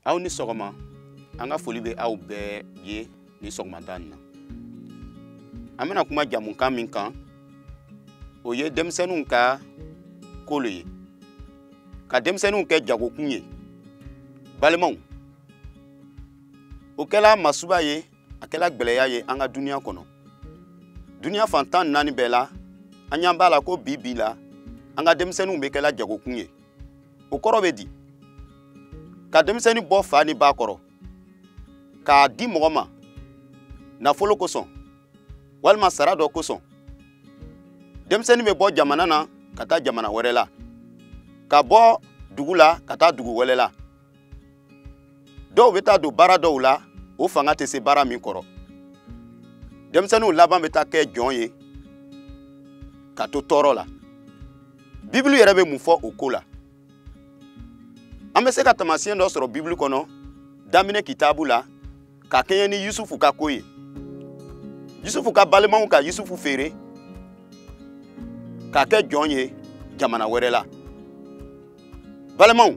aw ni sɔgɔma an ka foli bɛ aw bɛɛ ye nin sɔgɔmada nin na an bɛna kuma jamukan min kan o ye denmisɛnninw ka ko lo ye ka denmisɛnninw kɛ jagokun ye balimaw o kɛla masuba ye a kɛla gwɛlɛya ye an ka duniya kɔnɔ duniya fan tan ni naani bɛɛ la an y'an b'a la ko bi bi la an ka denmisɛnninw bɛ kɛla jagokun ye o kɔrɔ bɛ di ka denmisɛnnin bɔ fa ni ba kɔrɔ k'a di mɔgɔ ma nafolo kosɔn walima sara dɔ kosɔn denmisɛnnin bɛ bɔ jamana na ka taa jamana wɛrɛ la ka bɔ dugu la ka taa dugu wɛrɛ la dɔw bɛ taa don baara dɔw la o fanga tɛ se baara min kɔrɔ denmisɛnninw laban bɛ taa kɛ jɔn ye ka to tɔɔrɔ la bibulu yɛrɛ bɛ mun fɔ o ko la an bɛ se ka taamasiyɛn dɔ sɔrɔ bibulu kɔnɔ daminɛ kitabu la ka kɛɲɛ ni yusufu ka ko ye yusufu ka balimaw ka yusufu feere k'a kɛ jɔn ye jamana wɛrɛ la balimaw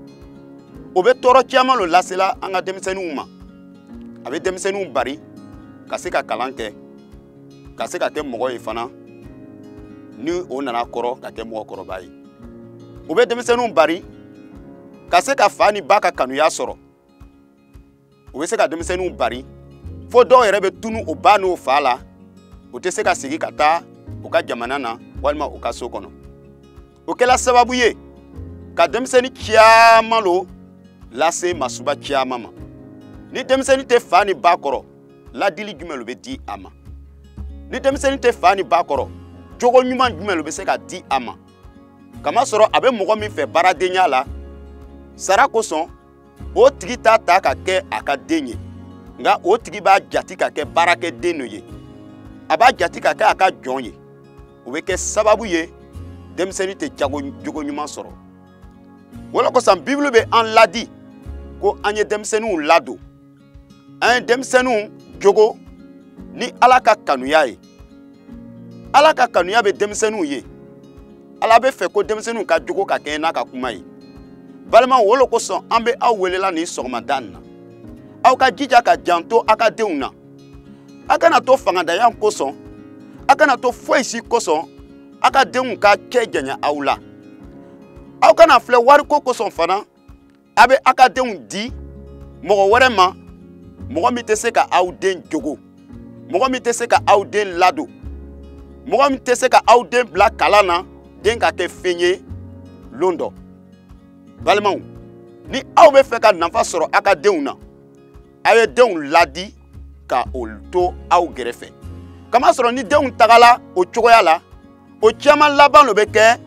o bɛ tɔɔrɔ caman lo lasela an ka denmisɛnninw ma a bɛ denmisɛnninw bari ka se ka kalan kɛ ka se ka kɛ mɔgɔ ye fana ni o nana kɔrɔ ka kɛ mɔgɔkɔrɔba ye o bɛ denmisɛnninw bari ka se ka fa ni ba ka kanuya sɔrɔ o bɛ se ka denmisɛnninw bari fo dɔw yɛrɛ bɛ tunu o ba n'o fa la o tɛ se ka segi ka taa o ka jamana na walima o ka so kɔnɔ o kɛla sababu ye ka denmisɛnnin caman lo lase masuba caman ma ni denmisɛnnin tɛ fa ni ba kɔrɔ ladili jumɛn lo bɛ di a ma ni denmisɛnnin tɛ fa ni ba kɔrɔ jogo ɲuman jumɛn lo bɛ se ka di a ma kamasɔrɔ a bɛ mɔgɔ min fɛ baaradenya la sara kosɔn o tigi t'a ta ka kɛ a ka den ye nka o tigi b'a jati ka kɛ baarakɛden dɔ ye a b'a jati ka kɛ a ka jɔn ye o bɛ kɛ sababu ye denmisɛnnin tɛ jogo ɲuman sɔrɔ o lo kosɔn bibulu bɛ an ladi ko an ye denmisɛnninw ladon an ye denmisɛnninw jogo ni ala ka kanuya ye ala ka kanuya bɛ denmisɛnninw ye ala bɛ fɛ ko denmisɛnninw ka jogo ka kɛɲɛ n'a ka kuma ye balimaw o lo kosɔn an bɛ aw welela nin sɔgɔmada nin na aw ka jija ka janto aw ka denw na aw kana to fangantanya kosɔn aw kana to foyi si kosɔn aw ka denw ka kɛ janya aw la aw kana filɛ wariko kosɔn fana a bɛ a ka denw di mɔgɔ wɛrɛ ma mɔgɔ min tɛ se ka aw den jogo mɔgɔ min tɛ se ka aw den ladon mɔgɔ min tɛ se ka aw den bila kalan na den ka kɛ fɛn ye lon dɔ balimaw ni aw bɛ fɛ ka nafa sɔrɔ a ka denw na a ye denw ladi ka o to aw gɛrɛfɛ kamasɔrɔ ni denw tagala o cogoya la o caman laban lo bɛ kɛ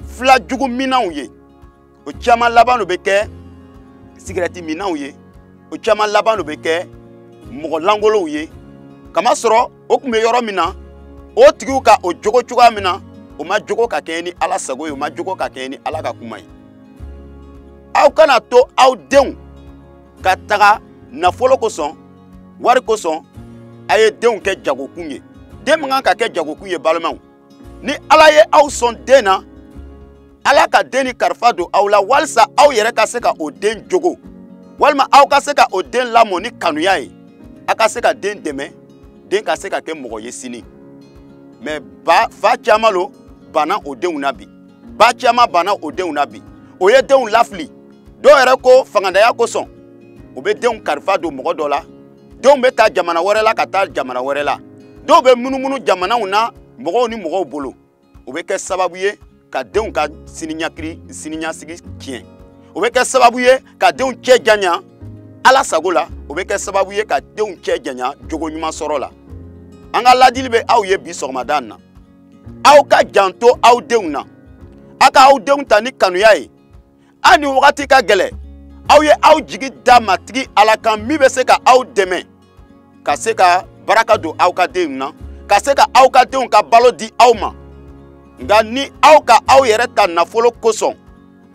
fila jugu minnaw ye o caman laban lo bɛ kɛ sigarɛti minnaw ye o caman laban lo bɛ kɛ mɔgɔ langolow ye kamasɔrɔ o tun bɛ yɔrɔ min na o tigiw ka o jogo cogoya min na o ma jogo ka kɛɲɛ ni ala sago ye o ma jogo ka kɛɲɛ ni ala ka kuma ye aw kana to aw denw ka taga nafolo kosɔn wari kosɔn a ye denw kɛ jagokun ye den man kan ka kɛ jagokun ye balimaw ni ala ye aw sɔn den na ala ka den ni kalifa don aw la walisa aw yɛrɛ ka se ka o den jogo walima aw ka se ka o den lamɔ ni kanuya ye a ka se ka den dɛmɛ den ka se ka kɛ mɔgɔ ye sini mais ba fa caman lo banna o denw na bi ba caman banna o denw na bi o ye denw lafili dɔw yɛrɛ ko fangantanya kosɔn o bɛ denw kalifa don mɔgɔ dɔ la denw bɛ ta jamana wɛrɛ la ka taa jamana wɛrɛ la dɔw bɛ munumunu jamanaw na mɔgɔw ni mɔgɔw bolo o bɛ kɛ sababu ye ka denw ka siniɲasigi tiɲɛ o bɛ kɛ sababu ye ka denw cɛ janya ala sago la o bɛ kɛ sababu ye ka denw cɛ janya jogo ɲuman sɔrɔ la an ka ladili bɛ aw ye bi sɔgɔmada na aw ka janto aw denw na a ka aw denw ta ni kanuya ye a ni wagati ka gɛlɛ aw ye aw jigi da matigi ala kan min bɛ se ka aw dɛmɛ ka se ka baraka don aw ka denw na ka se ka aw ka denw ka balo di aw ma nga ni aw ka aw yɛrɛ ta nafolo kosɔn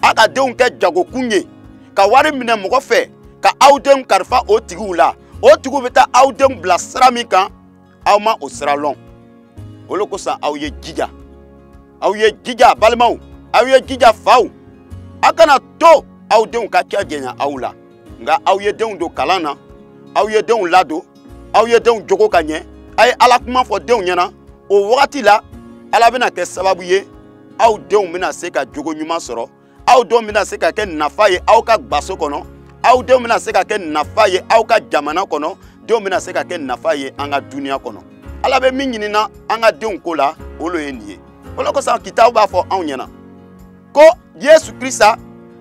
aw ka denw kɛ jagokun ye ka wari minɛ mɔgɔ fɛ ka aw denw kalifa o tigiw la o tigiw bɛ taa aw denw bila sira min kan aw ma o sira lɔn o le kosɔn aw ye jija aw ye jija balimaw aw ye jija faw a kana to aw denw ka cɛ janya aw la nga aw ye denw don kalan na aw ye denw ladon aw ye denw jogo ka ɲɛ a ye ala kuma fɔ denw ɲɛna o wagati la ala bɛna kɛ sababu ye aw denw bɛna se ka jogo ɲuman sɔrɔ aw denw bɛna se ka kɛ nafa ye aw ka gbaso kɔnɔ aw denw bɛna se ka kɛ nafa ye aw ka jamana kɔnɔ denw bɛna se ka kɛ nafa ye an ka duniya kɔnɔ ala bɛ min ɲinina an ka denw ko la o lo ye nin ye o lo kosɔn kitabu b'a fɔ anw ɲɛna ko yesu krista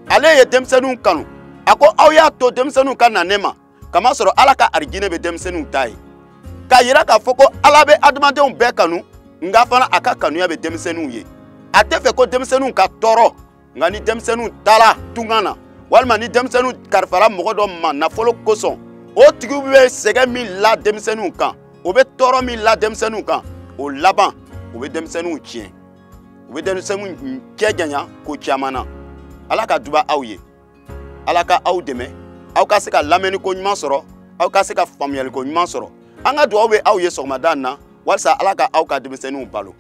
ale ye denmisɛnninw kanu a ko aw y'a to denmisɛnninw ka na ne ma k'a masɔrɔ ala ka arijinɛ bɛ denmisɛnninw ta ye k'a yira k'a fɔ ko ala bɛ adamadenw bɛɛ kanu nka fana a ka kanuya bɛ denmisɛnninw ye a tɛ fɛ ko denmisɛnninw ka tɔɔrɔ nka ni denmisɛnninw taara tunga na walima ni denmisɛnninw karifara mɔgɔ dɔ ma nafolo kosɔn o tigiw bɛ sɛgɛn min la denmisɛnninw kan o bɛ tɔɔrɔ min la denmisɛnninw kan o laban o bɛ denmisɛnninw tiɲɛ u bɛ denmisɛnninw cɛ janya ko caman na ala ka duba aw ye ala ka aw dɛmɛ aw ka se ka lamɛnniko ɲuman sɔrɔ aw ka se ka faamuyaliko ɲuman sɔrɔ an ka dugawu bɛ aw ye sɔgɔmada in na walisa ala ka aw ka denmisɛnninw balo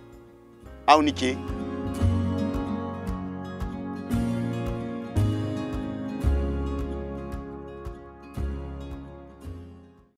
aw ni ce